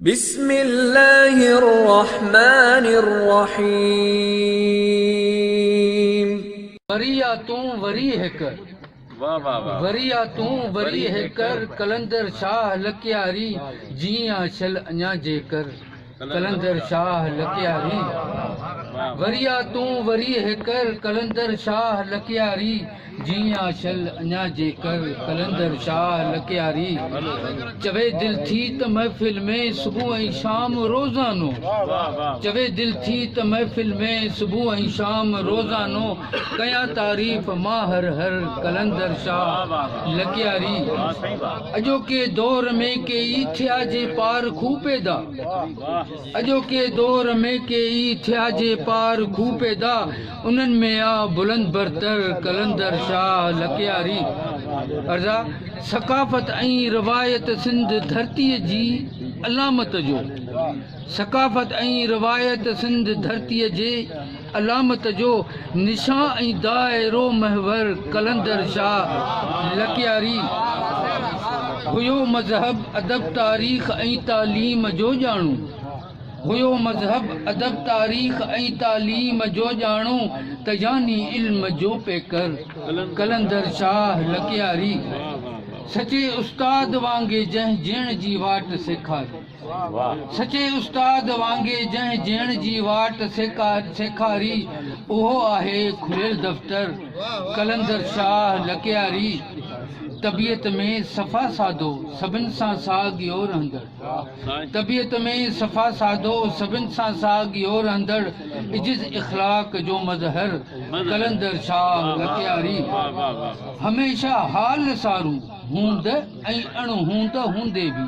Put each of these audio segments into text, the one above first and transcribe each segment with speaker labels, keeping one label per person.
Speaker 1: بسم الله الرحمٰن الرحيم. وري
Speaker 2: آ تون وري هيڪ. وري آ تون وري هيڪ ر قلندر شاهه لڪياري جيئن آ شل اڃا جيڪر قلندر شاهه لڪياري وري آ تون وري هيڪ ر قلندر شاهه لڪياري. جيئن آ شل اڃا جيڪر قلندر شاهه لڪياري چوي دل ٿي ته محفل ۾ صبح ۽ شام روزانو چوي دل ٿي ته محفل ۾ صبح ۽ شام روزانو ڪيان تعريف مان هر هر قلندر شاهه لڪياري اڄوڪي دور ۾ ڪيئي ٿيا جي پارکو پيدا اڄوڪي دور ۾ ڪي ئي ٿيا جي پار کوهه پيدا انهن ۾ آ بلند برتر قلندر شاهه لڪياري ارزا ثقافت ۽ روايت سنڌ ڌرتي جي علامت جو ثقافت ۽ روايت سنڌ ڌرتي جي علامت جو نشان ۽ دائرو محور قلندر شاهه لڪياري هيو مذهب، ادب، تاريخ ۽ تعليم جو ڄاڻو هيو مذهب، ادب، تاريخ ۽ تعليم جو ڄاڻو ته يعني علم جو پيڪر قلندر شاهه لڪياري سچي استاد وانگي جنهن جيئڻ جي واٽ سيکاري. سچي استاد وانگي جنهن جيئڻ جي واٽ سيکاري اهو آهي کليل دفتر قلندر شاهه لڪياري طبيعت ۾ صفا سادو سڀن سان ساڳيو رهندڙ طبيعت ۾ صفا سادو سڀن سان ساڳيو رهندڙ عجز اخلاق جو مظهر قلندر شاهه لڪياري هميشه حال سارو هوند ۽ اڻ هوند هوندي به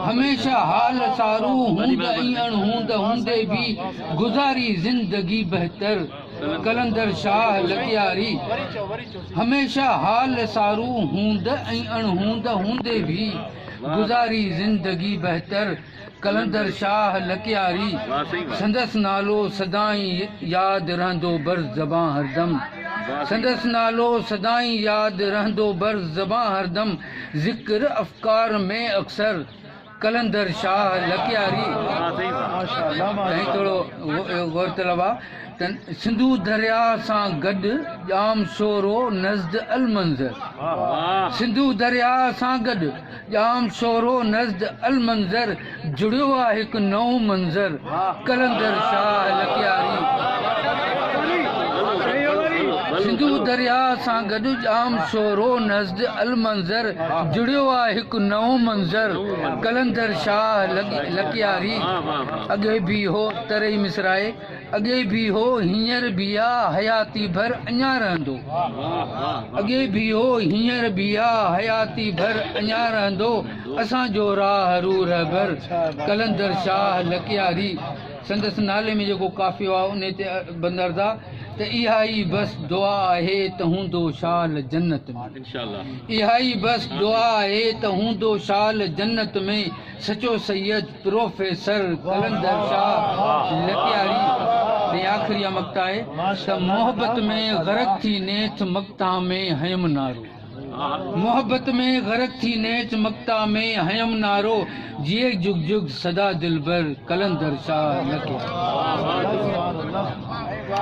Speaker 2: هميشه حال سارو هوند ۽ اڻ هوند هوندي به گذاري زندگي بهتر قلندر شاهه لغياري هميشه حال سارو هوند ۽ اڻ هوند هوندي به گذاري زندگي بهتر. قلندر شاهه لڪياري سندس نالو سدائين ياد رهندو بر زبان هردم سندس نالو سدائين ياد رهندو بر زبان هردم ذڪر افڪار ۾ اڪثر قلندر شاهه لڪياري ۽ ٿورو غور طلب آ ته سنڌو دريا سان گڏ ڄام شورو نزد المنظر سنڌو دريا سان گڏ ڄام سورو نزد المنظر جڙيو آ هڪ نئون منظر قلندر شاهه لڪياري سنڌو درياء سان گڏ ڄام سورو نزد المنظر جڙيو آ هڪ نئون منظر قلندر شاهه لڪياري اڳي به هو تري مصرعي اڳي به هو هينئر به آ حياتي ڀر اڃان رهندو اڳي به هو هينئر به آ حياتي ڀر اڃان رهندو اسان جو راهه رو رهبر قلندر شاهه لڪياري سندس نالي ۾ جيڪو قافيو آ انهي تي بندردا ته اها ئي بس دعا آهي ته هوندو شال جنت ۾ اها ئي بس دعا آهي ته هوندو شال جنت ۾ سچو سيد پروفيسر قلندر شاهه لتياري ڏي آخري آ مقطع آهي ته محبت ۾ غرق ٿي نيٺ مقطع ۾ هنيم نارو محبت ۾ غرق ٿي نيٺ مقطع ۾ هنيم نارو جيئي جگ جگ سدا دلبر قلندر شاهه لتياري.